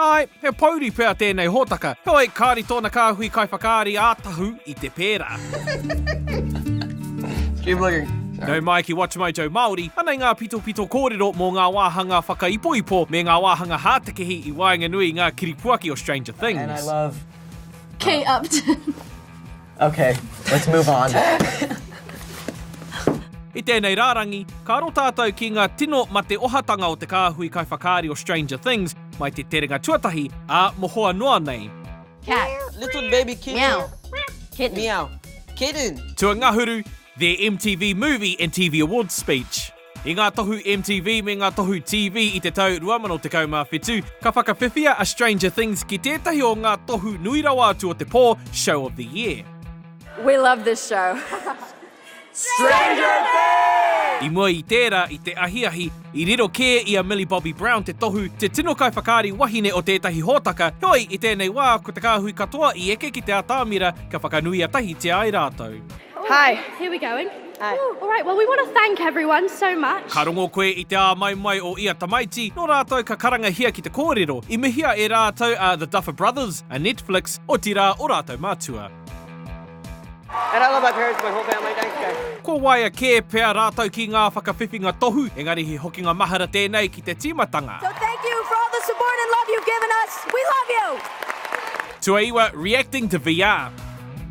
Āe, he pōuri pea tēnei hōtaka. Heoi, kāore tōna kāhui kaiwhakaari ā tahu i te pērā. Keep looking. Nau mai ki WatchMojo Māori, anei ngā pitopito kōrero mō ngā wāhanga whakaipoipo me ngā wāhanga hātekehi i waenganui i ngā kiripuaki o Stranger Things. And I love Kate Upton. Ok, let's move on. I tēnei rārangi, ka aro tātou ki ngā tino mate ohatanga o te kāhui kaiwhakaari o Stranger Things mai te terenga tuatahi, ā, mohoa noa nei. Cat. Little baby kitten. Meow. Kitten. Meow. Kitten. Tuangahuru, their MTV Movie and TV Awards speech. I ngā tohu MTV me ngā tohu TV i te tau 2017, ka whakawhiwhia a Stranger Things ki tētahi o ngā tohu nui rawa atu o te pō, Show of the Year. We love this show. Stranger Things! I mua i tērā, i te ahiahi, i riro kē i a Millie Bobby Brown te tohu, te tino kaiwhakaari wahine o tētahi hōtaka, heoi, i tēnei wā, ko te kāhui katoa i eke ki te atamira, ka whakanuia tahitia ai rātou. Hi. Here we going. Hi. Ooh, all right, well we want to thank everyone so much. Ka rongo koe i te āmaimai o ia tamaiti, nō rātou ka karangahia ki te kōrero, i mihia e rātou a The Duffer Brothers, a Netflix, otirā o rātou mātua. And I love my parents, my whole family, thanks guys. Kua waia kē pea rātou ki ngā whakawhiwhinga tohu, engari he hokinga mahara tēnei ki te tīmatanga. So thank you for all the support and love you've given us. We love you! Tuaiwa, Reacting to VR.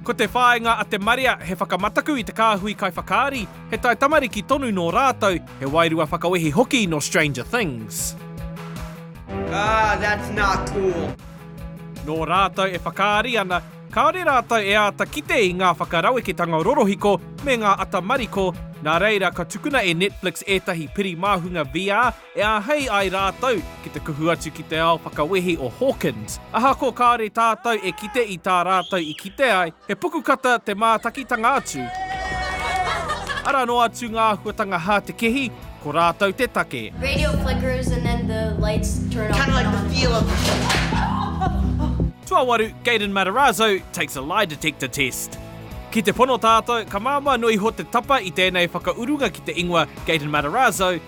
Ko te whāinga a te marea he whakamataku i te kāhui kaiwhakaari, he taitamariki tonu nō rātou, he wairua whakawehi hoki nō Stranger Things. Ahh that's not cool. Nō rātou e whakaari ana, kāore rātou e āta kite i ngā whakaraweketanga rorohiko me ngā ata mariko, nā reira ka tukuna e Netflix ētahi piri māhunga VR, E āhei ai rātou ki te kuhu atu ki te ao whakawehi o Hawkins. Ahakoa kāore tātou e kite i tā rātou i kite ai, he pukukata te mātakitanga atu. Arā noa atu ngā āhuatanga hātekehi, ko rātou te take. Tuawaru, Gaiden Matarazzo takes a lie detector test. Ki te pono tātou, ka māmā noa iho te tapa i tēnei whakaurunga ki te ingoa Gaiden Matarazzo,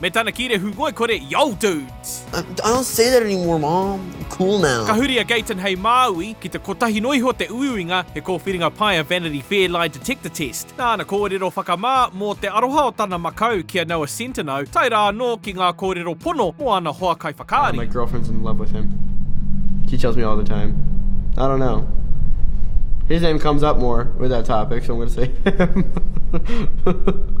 Me tana kīrehu ngoikore, Yo dudes! I don't say that anymore mom, I'm cool now. Ka huri a Gayton hei Māui, ki te kotahi noa iho te uiuinga, he kōwhiringa pai a Vanity Fair Lie Detector Test. Nā ana kōrero whakamā mō te aroha o tana makau ki a Noah Centineo, tae rā anō ki ngā kōrero pono mō ana hoa kaiwhakaari. My girlfriend's in love with him. She tells me all the time. I don't know. His name comes up more with that topic, so I'm going to say him.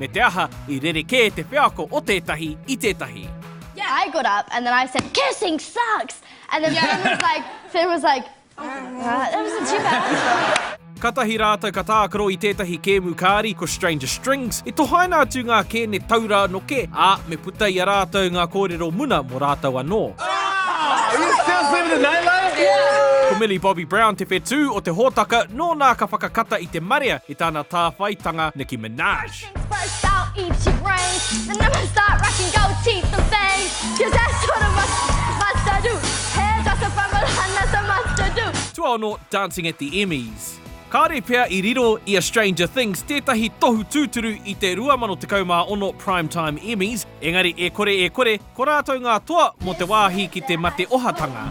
me te aha i rerekē te wheako o tētahi i tētahi. I got up and then I said, kissing sucks! And then Finn was like, Finn was like, that wasn't too bad. Katahi rātou ka tākaro i tētahi kēmu kāri ko Stranger Strings, i tohaina atu ngā kēne taura anō kē, ā, me puta i a rātou ngā kōrero muna mō rātou anō. Ko Millie Bobby Brown te whetū o te hōtaka, nōna ka whakakata i te marea, I tana tāwhaitanga, Nicki Minaj. Tuaono, Dancing at the Emmys. Kāre pea i riro i a Stranger Things tētahi tohu tūturu i te 2016 Primetime Emmys, engari e kore e kore, ko rātou ngā toa mō te wāhi ki te mate ohatanga.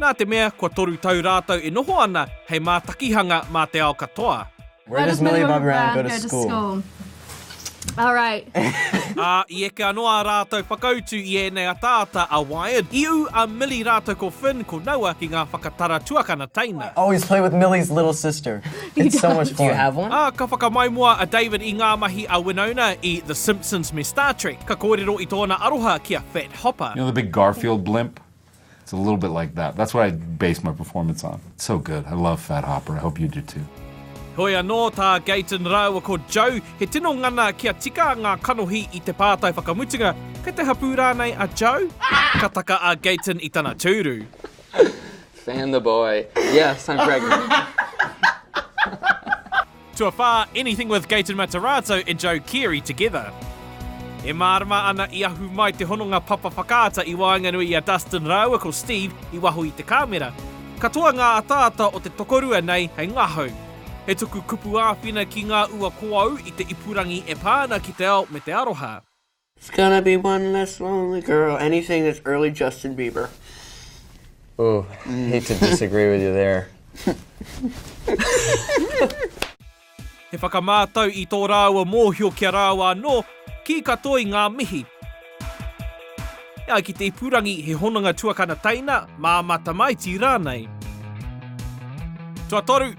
Nā te mea kua toru tau rātou e noho ana hei mātakihanga mā te ao katoa. Where does Millie Bobby Brown go to school? Ā, i eke anō ā rātou whakautu i ēnei ataata a Wired, i ū a Millie rātou ko Finn ko Noah ki ngā whakatara tuakana teina. Ā, ka whakamaumua a David i ngā mahi a Winona i The Simpsons me Star Trek, ka kōrero i tōna aroha ki a Fat Hopper. It's a little bit like that. That's what I base my performance on. It's so good. I love Fat Hopper. I hope you do too. Heoi anō, tā Gayton rāua ko Joe, he tino ngana kia tika ngā kanohi i te pātai whakamutunga, Kei te hapū rānei a Joe? Ka taka a Gayton i tana tūru. Fan the boy. Yes, I'm pregnant. Tuawhā, Anything with Gaten Mataratau and Joe Keery together. E mārama ana i ahu mai te hononga papa whakaata i waenganui i a Dustin rāua ko Steve i waho i te kāmera. Katoa ngā ataata o te tokorua nei hei ngahau. He tuku kupu āwhina ki ngā ua koau i te ipurangi e pā ana ki te ao me te aroha. It's gonna be one less lonely girl, anything that's early Justin Bieber. Ooh, hate to disagree with you there. He whakamātau i tō rāua mōhio ki a rāua anō, kī katoa i ngā mihi. E ai ki te ipurangi he hononga tuakana teina, māmā tamaiti rānei. Tuatoru,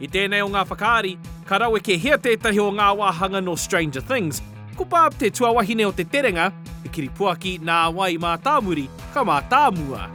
I tēnei o ngā whakaari, ka rawekehia tētahi o ngā wāhanga nō Stranger Things, ko Barb te tuawahine o te terenga, te kiripuaki nā wai i mātāmuri, ka mātāmua.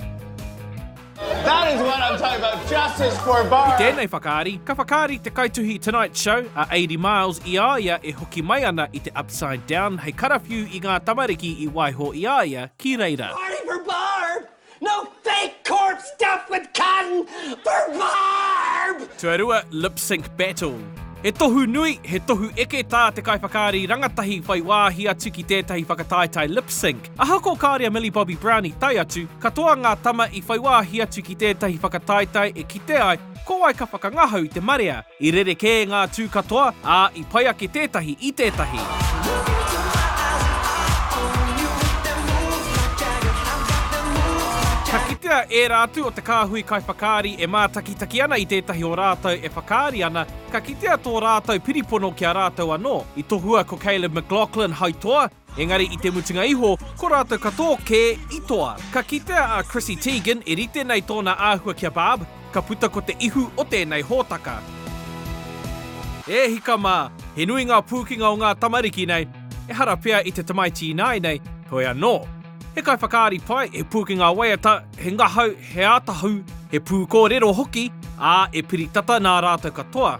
That is what I'm talking about, justice for Barb! I tēnei whakaari, ka whakaari te kaituhi Tonight Show, a Aidy Miles, i a ia e hoki mai ana i te Upside Down hei karawhiu i ngā tamariki i waiho i a ia ki reira. Party for Barb! No fake corp stuff with cotton for barb! Tuarua Lip Sync Battle He tohu nui, he tohu eke tā te kaiwhakaari rangatahi whai wāhi atu ki tētahi whakataetae lip sync. Ahakoa kāre a Millie Bobby Brown i tae atu, katoa ngā tama i whai wāhi atu ki tētahi whakataetae e kite ai ko wai ka whakangahau i te marea. I rerekē ngā tū katoa, ā, i pai ake tētahi i tētahi. Ka kitea ērā atu o te kāhui kaiwhakaari e mātakitaki ana i tētahi o rātou e whakaari ana, ka kitea tō rātou piripono ki a rātou anō. I tohua ko Caleb McLaughlin hai toa, Engari i te mutunga iho, ko rātou katoa kē i toa. Ka kitea a Chrissy Teigen e rite nei tōna āhua kia Barb, ka puta ko te ihu o tēnei hōtaka. E hika mā, he nui ngā pūkenga o ngā tamariki nei, ehara pea i te tamaiti ināianei, heoi anō. He kaiwhakaari pai, he pūkenga waiata, he ngahau, he ātahu, he pūkōrero hoki, ā, e piri tata nā rātou katoa.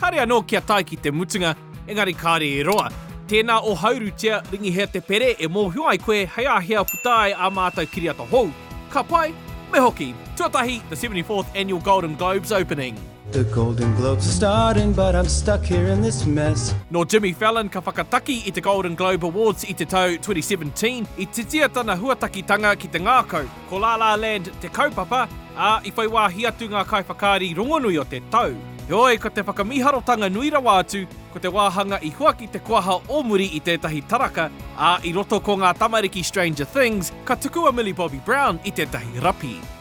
Kāre anō kia tae ki te mutunga, engari kāre e roa. Tēnā o Haurutia, Ringihea Te Pere e mōhio ai koe hei āhea puta ai ā mātou kiriata hou. Ka pai? Me hoki! Tuatahi, The 74th Annual Golden Globes Opening. The Golden Globes are starting but I'm stuck here in this mess. Nō Jimmy Fallon ka whakataki i te Golden Globe Awards i te tau 2017, i titia tana huatakitanga ki te ngākau, ko La La Land te kaupapa, ā, i whai wāhi atu ngā kaiwhakaari rongonui o te tau. Heoi, ko te whakamīharotanga nui rawa atu, ko te wāhanga i huaki te koaha o muri i tētahi taraka, ā, i roto ko ngā tamariki Stranger Things, ka tukua Millie Bobby Brown i tētahi rapi.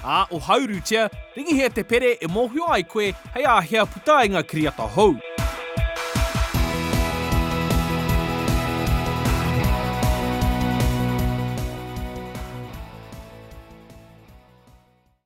Ā, ohaurutia, ringihia te pere e mōhio ai koe hei āhea puta ai ngā kiriata hou.